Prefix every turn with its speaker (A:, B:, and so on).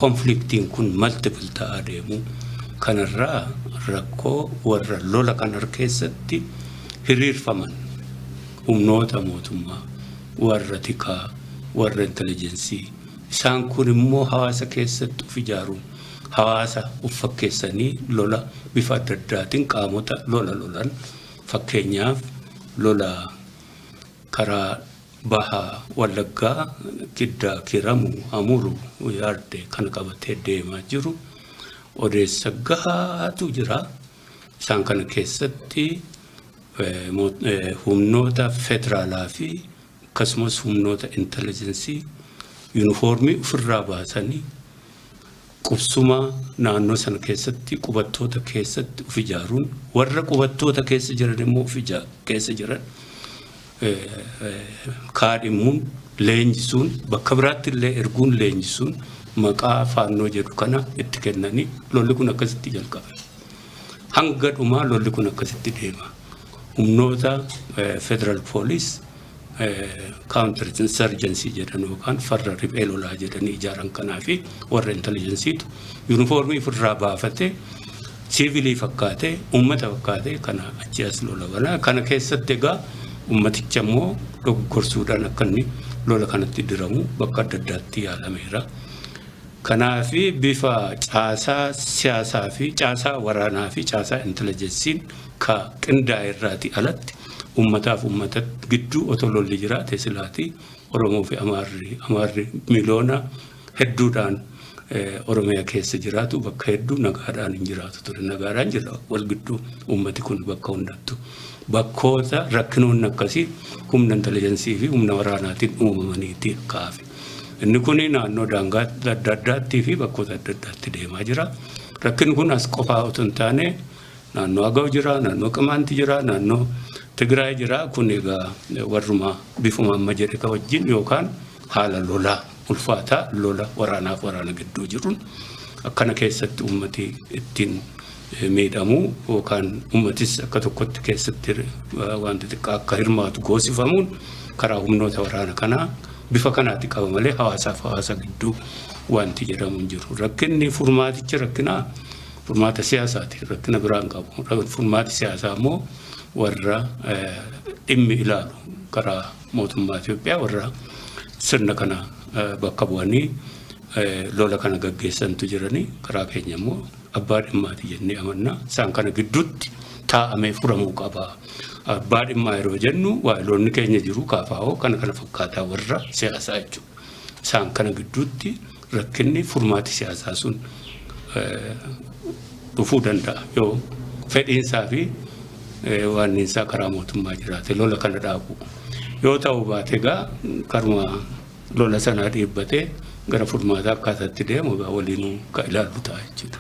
A: Konfliktiin kun multiple ta'aa deemuu kanarraa rakkoo warra lola kanar keessatti hiriirfaman, humnoota mootummaa, warra tikaa, warra intelejensii, isaan kun immoo hawaasa keessatti of ijaaruun hawaasa of fakkeessanii lola bifa adda addaatiin qaamota lola lolan fakkeenyaaf lola karaa Baha Wallaggaa Giddaa Kiiramu Amuru Yard kana qabatee deemaa jiru odeessa gahaatu jira. Isaan kana keessatti humnoota federaalaa fi akkasumas humnoota intelligensii yuunifoormii ofirraa baasanii Qubsuma naannoo sana keessatti qubattoota keessatti of ijaaruun warra qubattoota keessa jiran immoo of keessa jiran kaadhimuun leenjisuun bakka biraatti illee erguun leenjisuun maqaa faannoo jedhu kana itti kennanii lolli kun akkasitti jalqabe. Hanga dhumaa lolli kun akkasitti deema. Humnoota federal police counter insurgency jedhan yookaan farra riphee lolaa jedhanii ijaaran kanaa fi warra intelligensiitu yuunifoormii ofirraa baafatee siivilii fakkaatee uummata fakkaatee kana achi as lola banaa kana keessatti egaa uummaticha immoo dogoggorsuudhaan akka inni lola kanatti diramu bakka adda addaatti yaalameera. Kanaaf bifa caasaa siyaasaa fi caasaa waraanaa fi caasaa intelligensiin ka qindaa'e irraati alatti Ummataaf ummata gidduu otoo lolli jiraate silaati Oromoo fi Amaarri Amaarri miloona hedduudhaan Oromiyaa keessa jiraatu bakka hedduu nagaadhaan hin jiraatu ture. Nagaadhaan jira wal gidduu ummati kun bakka hundattu. Bakkoota rakkinoonni akkasii humna intelijansii fi humna waraanaatiin uumamaniiti kaafe. Inni kun naannoo daangaa adda addaattii fi bakkoota adda addaatti deemaa jira. Rakkin kun as qofaa otoo hin taane Naannoo Agaw jira, naannoo Qimaanti jira, naannoo Tigraay jira. Kun egaa warruma bifuma amma jedhe ka wajjin yookaan haala lolaa ulfaataa lola waraanaaf waraana gidduu jiruun akkana keessatti uummati ittiin miidhamu yookaan uummatis akka tokkotti keessatti wanti xiqqaa akka hirmaatu goosifamuun karaa humnoota waraana kanaa bifa kanaatti qaba malee hawaasaaf hawaasa gidduu wanti jedhamu hin jiru. Rakkinni furmaatichi rakkinaa Furmaata siyaasaati. Rakkina biraa hin qabu. Furmaati siyaasaa immoo warra dhimmi ilaalu karaa mootummaa Itoophiyaa warra sirna kana bakka bu'anii lola kana gaggeessantu jiranii karaa keenya immoo abbaa dhimmaati jennee amanna. Isaan kana gidduutti taa'amee furamuu qaba. Abbaa dhimmaa yeroo jennu waayiloonni keenya jiru kaafaa'oo kana kana fakkaataa warra siyaasaa jechuudha. Isaan kana gidduutti Rakkinni furmaati siyaasaa sun dhufuu danda'a yoo fedhiinsaa fi waanniinsaa karaa mootummaa jiraate lola kana dhaabu. Yoo ta'u baate egaa karuma lola sanaa dhiibbatee gara furmaataa akkaataatti deemu egaa waliinuu ka ilaallu ta'a jechuudha.